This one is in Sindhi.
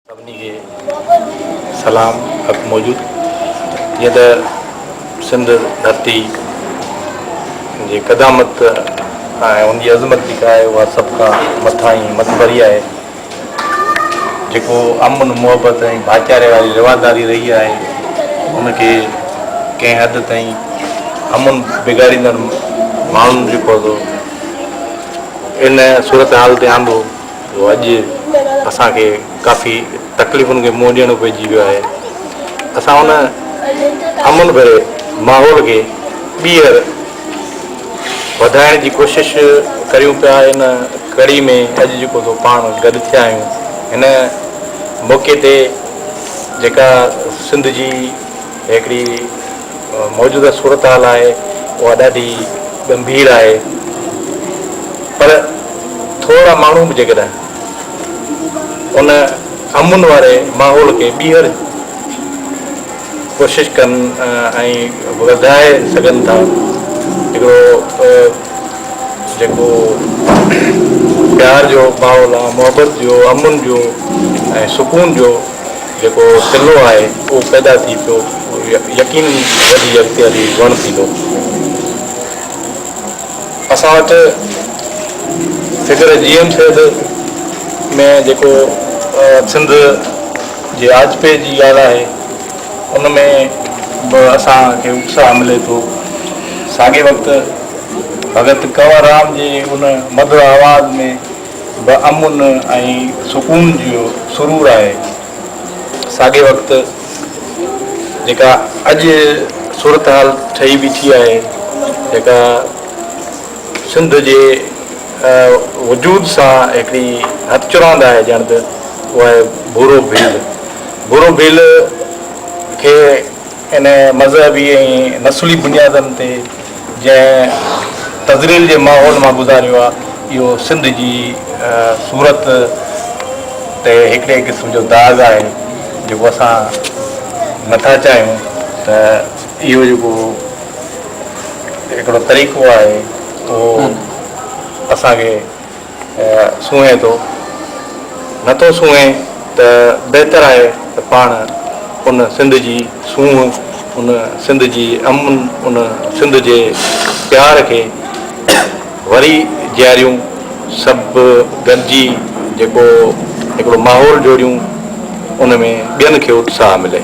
سڀني کي سلام حق موجود جيئن ته سنڌ ڌرتي جي قدامت ۽ ان جي عظمت جيڪا آهي اها سڀ کان مٿاهين ۽ مٿڀري آهي جيڪو امن محبت ۽ ڀائيچاري واري رواداري رهي آهي ان کي ڪنهن حد تائين امن بگاڙيندڙ ماڻهن جيڪو آهي سو ان صورتحال تي آندو اڄ اسان کي ڪافي تڪليفن کي منهن ڏيڻو پئجي ويو آهي اسان ان امن ڀري ماحول کي ٻيهر وڌائڻ جي ڪوشش ڪريون پيا ان ڪڙي ۾ اڄ جيڪو سو پاڻ گڏ ٿيا آهيون هن موقعي تي جيڪا سنڌ جي هڪڙي موجوده صورتحال آهي اها ڏاڍي ڳنڀير آهي پر ٿورڙا ماڻهو به جيڪڏهن ان امن واري ماحول کي ٻيهر ڪوشش ڪن ۽ وڌائي سگهن ٿا هڪڙو جيڪو پيار جو ماحول آهي محبت جو امن جو ۽ سڪون جو جيڪو تلو آهي اهو پيدا ٿي پيو اهو يقين وڌي اختياري وڻ ٿيندو. اسان وٽ فگر جي ايم سيد ۾ جيڪو سنڌ جي آجپي جي ڳالهه آهي ان ۾ به اسان کي اتساهه ملي ٿو. ساڳي وقت ڀڳت ڪنور رام جي ان مڌر آواز ۾ به امن ۽ سڪون جو سرور آهي. ساڳئي وقت جيڪا اڄ صورتحال ٺهي بيٺي آهي، جيڪا سنڌ جي وجود سان هڪڙي هٿچراند آهي ڄڻ ته اها آهي ڀورو ڀيل. ڀورو ڀيل کي ان مذهبي ۽ نسلي بنيادن تي، جنهن تذليل جي ماحول مان گذاريو آهي، اهو سنڌ جي صورت تي هڪڙي قسم جو داغ آهي، جيڪو اسان نه ٿا چاهيون ته اهو جيڪو هڪڙو طريقو آهي، اهو اسان کي. سونهين ٿو، نٿو سونهين ته بهتر آهي ته پاڻ ان سنڌ جي سونهن، ان سنڌ جي امن، ان سنڌ جي پيار کي وري جياريون، سڀ گڏجي جيڪو هڪڙو ماحول جوڙيون، ان ۾ ٻين کي اتساهه ملي.